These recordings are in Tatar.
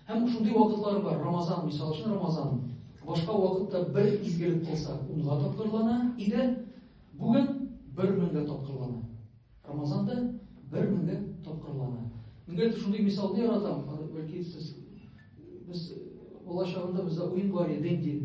Һәм шундый вакытлар бар, Рамазан, мисал өчен Рамазан. Башка вакытта бер изгелек кылса, унга тапкырлана иде. Бүген бер меңгә тапкырлана. Рамазанда бер меңгә тапкырлана. Миңа шундый мисалны яратам, бәлки сез без бала чагында бездә уен бар иде, дин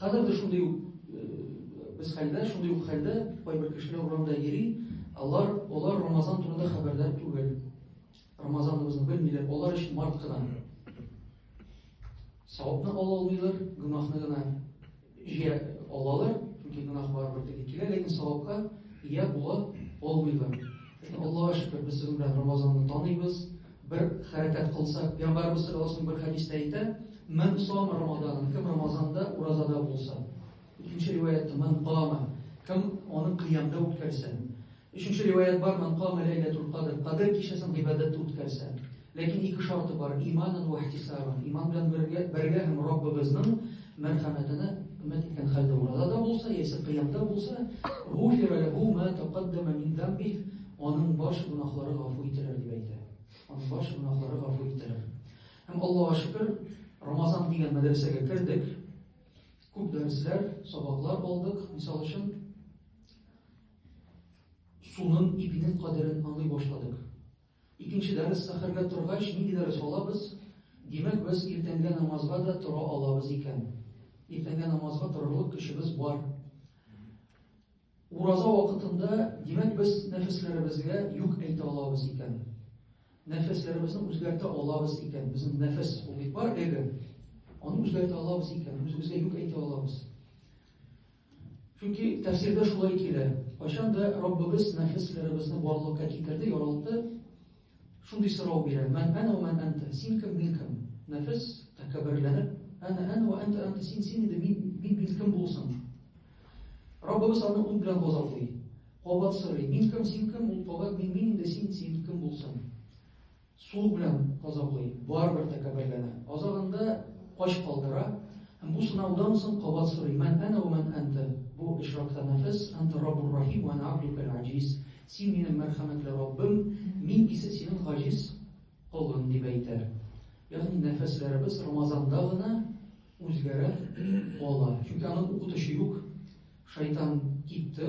Хәзер дә шундый ук без хәлдә, шундый ук хәлдә кайбер кешеләр урамда йөри, алар алар Рамазан турында хәбәрдар түгел. Рамазаныбызны белмиләр, алар өчен март кына. Савапны ала алмыйлар, гөнаһны гына җыя алалар, чөнки гөнаһ барыбер теге килә, ләкин савапка ия була алмыйлар. Аллаһ шөкер, без сезнең белән Рамазанны таныйбыз. Бер хәрәкәт кылсак, пәйгамбәрбез саллаллаһу бер хәдистә әйтә, "Ман сом рамадан", кем рамазанда уразада булса. Икенче риваятта "Ман кама", кем аны кыямда үткәрсә. Өченче риваят бар, "Ман кама ләйләтул кадр", кадр кичәсен гыйбадәттә үткәрсә. Ләкин ике шарты бар, иманан ва ихтисабан. Иман белән бергә, бергә һәм Раббыбызның мәрхәмәтенә өмет иткән хәлдә уразада булса, яисә кыямда булса, "Гуфира ләһу ма тәкаддама мин замбих" Аның баш гөнаһлары гафу ителер дип әйтә. Аның баш гөнаһлары гафу ителер. Һәм Аллаһуга шөкер, Рамазан дигән мәдрәсәгә кердек. Күп дәресләр, сабаклар алдык. Мисал өчен, суның ипинең кадерен аңлый башладык. Икенче дәрес сәхәргә торгач, нинди дәрес алабыз? Димәк, без иртәнгә намазга да тора алабыз икән. Иртәнгә намазга торырлык көчебез бар. Ураза вакытында, димәк, без нәфесләребезгә юк әйтә алабыз икән. Нәфесләребезне үзгәртә алабыз икән. Безнең нәфес ул бит бар эго. Аны үзгәртә алабыз икән, үзебезгә юк әйтә алабыз. Чөнки тәфсирдә шулай килә. Кайчан да Раббыбыз нәфесләребезне барлыкка китерде, яралты, Шундый сорау бирә, Мән әнә вә мән әнтә, син кем, мин кем? Нәфес, тәкәбберләнеп, Әнә әнә вә әнтә әнтә, син син инде, мин мин мин кем булсын? Раббыбыз аны ут белән газаплый. Кабат сорый, Мин кем, син кем? Ул кабат, Мин мин инде, син син кем булсын? Су белән газаплый, барыбер тәкәбберләнә. Азагында кач калдыра, һәм бу сынаудан соң кабат сорый, Мән әнә вә мән әнтә? Бу очракта нәфес, Әнтә Раббур Рахим вә әнә абдукәл аҗиз, Син минем мәрхәмәтле Раббым, мин исә синең гаҗиз колың, дип әйтә. Ягъни нәфәсләребез Рамазанда гына үзгәрә кала. Чөнки аны укытучы юк. Шайтан китте.